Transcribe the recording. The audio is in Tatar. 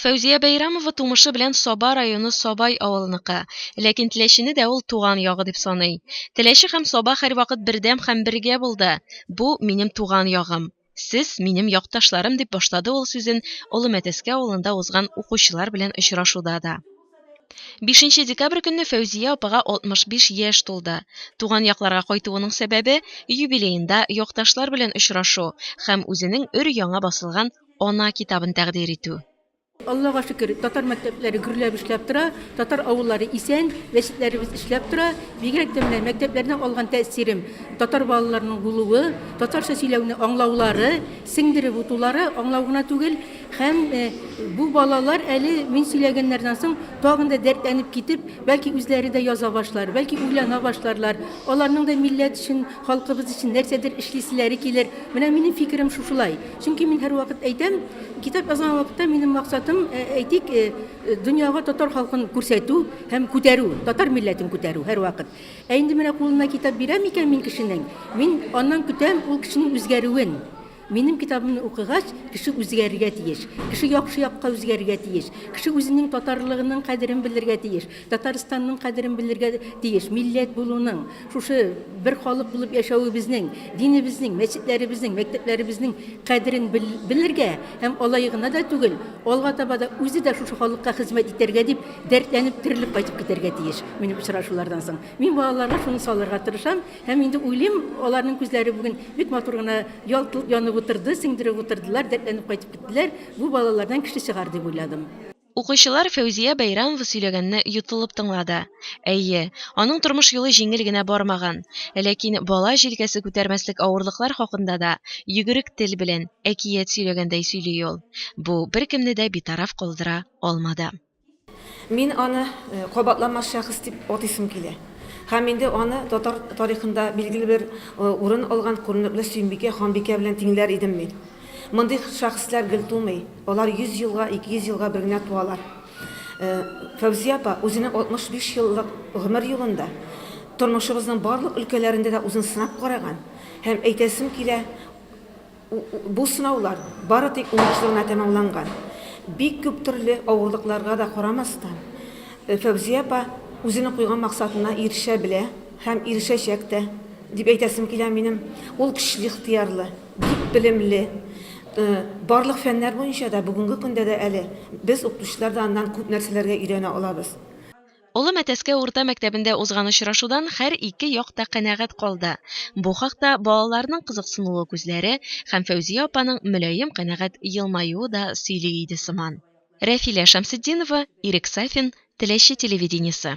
Фәүзия Бәйрәмова тумышы белән Саба районы Сабай авылыныкы, ләкин Теләчене дә ул туган ягы дип саный. Теләче һәм Саба һәрвакыт бердәм һәм бергә булды. Бу, минем туган ягым. Сез, минем якташларым, дип башлады ул сүзен Олы Мәтәскә авылында узган укучылар белән очрашуда да. Бишенче декабрь көнне Фәүзия апага 65 яшь тулды. Туган якларга кайтуының сәбәбе, юбилеенда якташлар белән очрашу һәм үзенең өр-яңа басылган Ана китабын тәкъдир итү. Аллага шөкер, татар мәктәпләре гөрләп эшләп тора, татар авыллары исән, мәчетләребез эшләп тора. Бигрәк тә менә мәктәпләрдән алган тәэсирем, татар балаларының булуы, татарча сөйләүне аңлаулары, сеңдереп утулары, аңлау гына түгел, һәм бу балалар әле мин сөйләгәннәрдән соң тагын да дәртләнеп китеп, бәлки үзләре дә яза башлар, бәлки уйлана башларлар, аларның да милләт өчен Халкыбыз өчен нәрсәдер эшлиселәре килер. Менә минем фикерем шушылай. Чөнки мин һәрвакыт әйтәм, китап язган вакытта минем максатым, әйтик, дөньяга татар халкын күрсәтү һәм күтәрү, татар милләтен күтәрү һәрвакыт. Ә инде менә кулына китап бирәм икән мин кешенең, мин аннан көтәм ул кешенең үзгәрүен. Минем китабымны укыгач, кеше үзгәрергә тиеш. Кеше яхшы якка үзгәрергә тиеш. Кеше үзенең татарлыгының кадерен белергә тиеш. Татарстанның кадерен белергә тиеш. Милләт булуның, шушы бер халык булып яшәвебезнең, динебезнең, мәчетләребезнең, мәктәпләребезнең кадерен белергә һәм алай гына да түгел, алга таба да үзе дә шушы халыкка хезмәт итәргә дип дәртләнеп, терелеп кайтып китәргә тиеш минем очрашулардан соң. Мин балаларга шуны салырга тырышам. Һәм инде уйлыйм, аларның күзләре бүген бик матур гына ялт-йолт янып утырды, сеңдереп утырдылар, дәртләнеп кайтып киттеләр. Бу балалардан кеше чыгар, дип уйладым. Укучылар Фәүзия Бәйрәмова сөйләгәнне йотылып тыңлады. Әйе, аның тормыш юлы җиңел генә бармаган. Ләкин бала җилкәсе күтәрмәслек авырлыклар хакында да йөгерек тел белән әкият сөйләгәндәй сөйли ул. Бу беркемне дә битараф калдыра алмады. Мин аны кабатланмас шәхес дип атыйсым килә. Һәм инде аны татар тарихында билгеле бер урын алган күренекле Сөембикә ханбикә белән тиңләр идем мин. Мондый шәхесләр гел тумый, алар 100 елга, 200 елга бер генә туалар. Фәүзия апа үзенең 65 еллык гомер юлында тормышыбызның барлык өлкәләрендә дә үзен сынап караган һәм әйтәсем килә, Бу сынаулар бары тик уңышлы гына тәмамланган. Бик күп төрле авырлыкларга да карамастан, Фәүзия апа үзенең куйган максатына ирешә белә һәм ирешәчәк тә, дип әйтәсем килә минем. Ул көчле ихтыярлы, бик белемле. Барлык фәннәр буенча да бүгенге көндә дә әле без, укытучылар да аннан күп нәрсәләргә өйрәнә алабыз. Олы Мәтәскә урта мәктәбендә узган очрашудан хәр ике як та канәгать калды. Бу хакта балаларның кызыксынулы күзләре һәм Фәүзия апаның мөлаем канәгать елмаюы да сөйли иде сыман. Рәфилә Шәмсетдинова, Ирек Сафин, Теләче телевидениесе.